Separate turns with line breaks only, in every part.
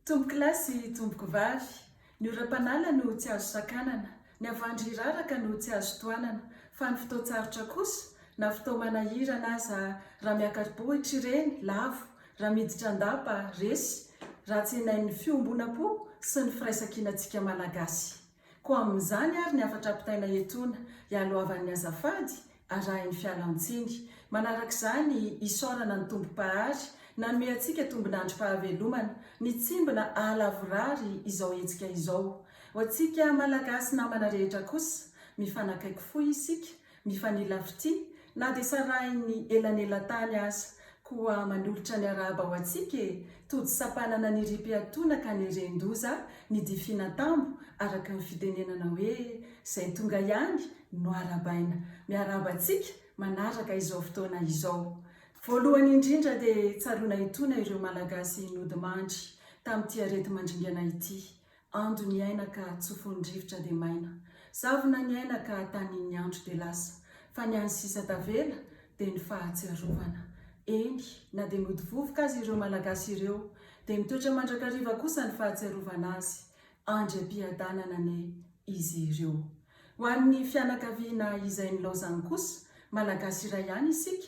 Tompokolahy sy tompokovavy, ny oram-panala no tsy azo sakanana, ny havandry hiraraka no tsy azo tohanana, fa ny fotoan-tsarotra kosa, na fotoam-manahirana aza, raha miakari-bohitra ireny, lavo, raha miditra an-dapa, resy, raha tsenain'ny fiombonam-po sy ny firaisankinantsika Malagasy. Koa amin'izany ary ny hafatra ampitaina etoana, ialohavan'ny azafady, arahin'ny fialan-tsiny. Manaraka izany, isaorana ny Tompo Mpahary, nanome antsika tombin'androm-pahavelomana, nitsimbina aha-lavorary izao hetsika izao. Ho antsika Malagasy namana rehetra kosa, mifanakaiky fo isika, Mifanila fitia, na dia sarahin'ny elanelan-tany aza. Koa manolotra ny arahaba ho antsika e! Tojo sampanana ny riam-piatoana ka neren-doza ny difinan-tambo, araka ny fitenenana hoe, izay tonga ihany no arabaina. Miarahaba antsika manaraka izao fotoana izao. Voalohany indrindra dia tsaroana etoana ireo Malagasy nodimandry tamin'ity areti-mandringana ity. Ando ny aina ka tsofin'ny rivotra dia maina, zavona ny aina ka tanin'ny andro dia lasa, fa ny an'ny sisa tavela dia ny fahatsiarovana. Eny, na dia nody vovoka aza ireo Malagasy ireo, dia mitoetra mandrakariva kosa ny fahatsiarovana azy, andry am-piadanana anie izy ireo. Ho an'ny fianakaviana izay nilaozany kosa, Malagasy iray ihany isika,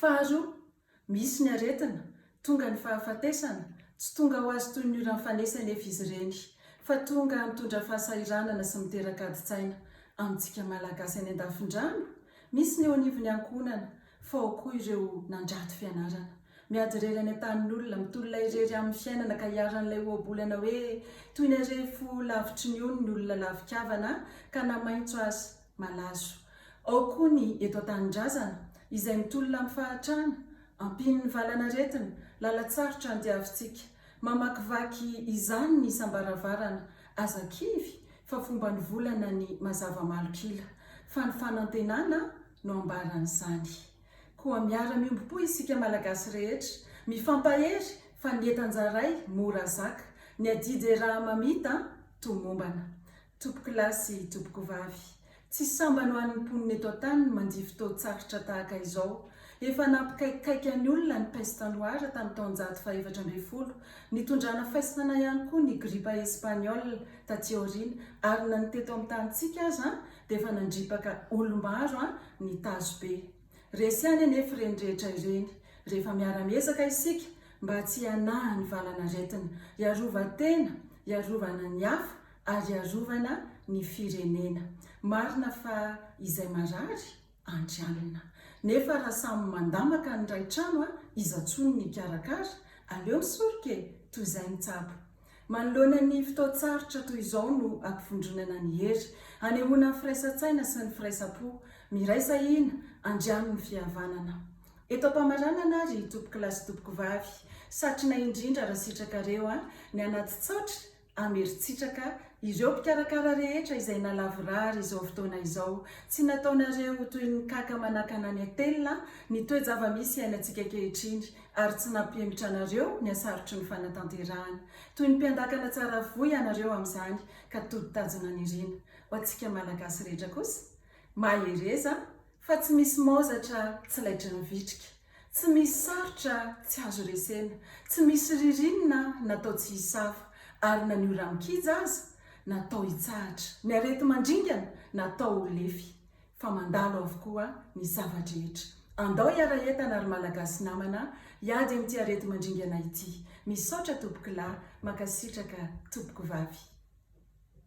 Faharoa, misy ny aretina, tonga ny fahafatesana, tsy tonga ho azy toy ny oran'ny fanesa anefa izy ireny, fa tonga mitondra fahasahiranana sy miteraka adin-tsaina, amintsika Malagasy any an-dafin-drano, misy ny eo anivon'ny ankohonana, fa ao koa ireo nandrato fianarana, miady irery any an-tanin'olona, mitolona irery amin'ny fiainana ka iharan'ilay ohabolana hoe toy ny arefo lavitry ny ony ny olona lavikavana ka namaitso azy. Malazo. Ao koa ny eto an-tanindrazana, izay mitolona amin'ny fahatrana, ampian'ny valan'aretina, lalan-tsarotra andiavintsika. Mamakivaky izany ny isam-baravarana. Aza kivy fa fomban'ny volana ny mazava malok'ila, fa ny fanantenana no ambaran'izany. Koa miara-miombom-po isika Malagasy rehetra, mifampahery fa ny entan-jaray mora zaka, ny adidy eraha-mamita tomombana. Tompoko lahy sy tompoko vavy, tsy sambany ho an'ny mponina eto an-tany ny mandia fotoan-tsarotra tahaka izao. Efa nampikaikaika ny olona ny peste noire tamin'ny taonjato fahefatra ambin'ny folo, nitondrana faisana ihany koa ny gripa espaniola taty aoriana, ary na ny teto amin'ny tanintsika aza dia efa nandripaka olom-baro ny tazo be. Resy ihany anefa ireny rehetra ireny, rehefa miara-miezaka isika mba tsy hanahy ny valan'aretina, hiarovan-tena, hiarovana ny hafa, ary hiarovana ny firenena. Marina fa izay marary andrianina. Nefa raha samy mandamaka ny ray trano a iza tsony ny hikarakara? Aleo misoroka e! Toy izay ny tsabo. Manoloana ny fotoan-tsarotra toy izao no ampivondronana ny hery, hanehoana ny firaisan-tsaina sy ny firaisam-po. Miraisa hina, andriano ny fihavanana. Eto am-pamaranana ary, tompokolahy sy tompokovavy, satrina indrindra raha sitrakareo a! Ny anaty tsaotra Ameritsitraka ireo mpikarakara rehetra izay nalavorary izao fotoana izao. Tsy nataonareo ho toy ny kaka manakana ny atelina ny toe-java-misy iainantsika ankehitriny, ary tsy nampihemotra anareo ny hasarotry ny fanatanterahana. Toy ny mpiandakana tsara voa ianareo amin'izany ka tody tajona nirina. Ho antsika Malagasy rehetra kosa, mahereza fa tsy misy maozatra tsy laitry ny vitrika. Tsy misy sarotra tsy azo resena, tsy misy ririnina natao tsy hisafa, ary na ny ora mikija aza natao hitsahatra, ny areti-mandringana natao ho lefy, fa mandalo avokoa ny zava-drehetra. Andao hiara-entana ry Malagasy namana hiady amin'ity areti-mandringana ity. Misaotra Tompokolahy, mankasitraka Tompokovavy.